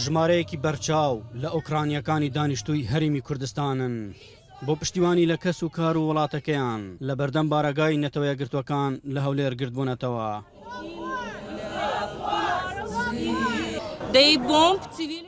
ژمارەیەکی بەرچاو لە ئۆکرانییەکانی دانیشتووی هەرێمی کوردستانن بۆ پشتیوانی لە کەس و کار و وڵاتەکەیان لە بەردەم بارەگای نەتەوە یەکگرتووەکان لە هەولێر گردبوونەتەوە.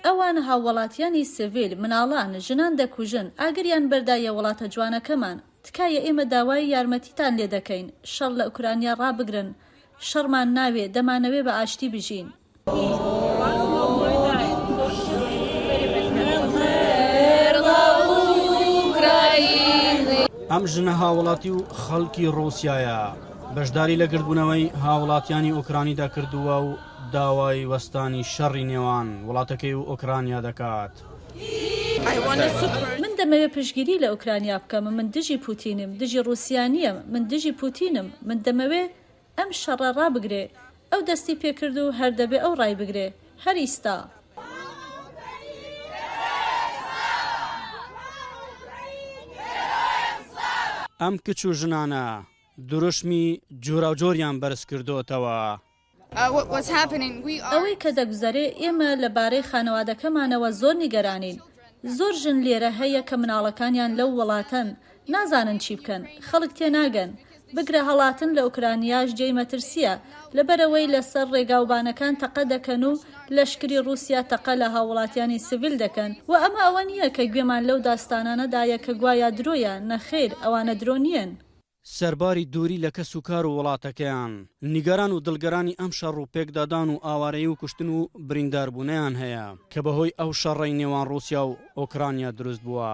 ئەوان هاووڵاتیانی سڤیل، مناڵان، ژنان دەکوژن، ئاگریان بەردایە وڵاتە جوانەکەمان. تکایە ئێمە داوای یارمەتیتان لێ دەکەین شەڕ لە ئوکرانیا ڕابگرن شەڕمان ناوێ دەمانەوێ بە ئاشتی بژین. ئەم ژنە هاوڵاتی و خەڵکی ڕوسیایە بەشداری لە گردبوونەوەی هاوڵاتیانی ئۆکرانیدا کردووە و داوای وەستانی شەڕی نێوان وڵاتەکەی و ئۆکرانیا دەکات. من دەمەوێ پشتگیری لە ئۆکرانیا بکەم من دژی پوتینیم دژی ڕوسیا نیەم من دژی پوتینم من دەمەوێ ئەم شەڕە ڕابگرێ ئەو دەستی پێ کرد و هەر دەبێ ئەو ڕای بگرێ هەر ئیستا. ئەم کچ و ژنانە دروشمی جوراوجۆریان بەرز کردۆتەوە. ئەوەی کە دەگوزەرێ، ئێمە لە بارەی خانەوادەکەمانەوە زۆر نیگەرانین. زۆر ژن لێرە هەیە کە مناڵەکانیان لەو وڵاتەن، نازانن چی بکەن، خەڵک تێناگەن. بگرە هەڵاتن لە ئۆکرانیاش جێی مەترسییە، لەبەرئەوەی لە سەر ڕێگاوبانەکان تەقە دەکەن و لەشکری ڕووسیا تەقە لە هاووڵاتیانی سڤیل دەکەن و ئەمە ئەوە نییە کە گوێمان لەو داستانانە دایە کە گوایا درۆیە، نەخێر ئەوانە درۆ نییەن. سەرباری دووری لە کەس و کار و وڵاتەکەیان، نیگەران و دڵگرانی ئەم شەڕ و پێکدادان و ئاوارەیی و کوشتن و برینداربوونەیان هەیە، کە بەهۆی ئەو شەڕەی نێوان ڕووسیا و ئۆکرانیا دروست بووە.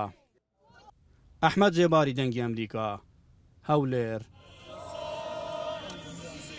ئەحمەد زێباری دەنگی ئەمریکا، هەولێر.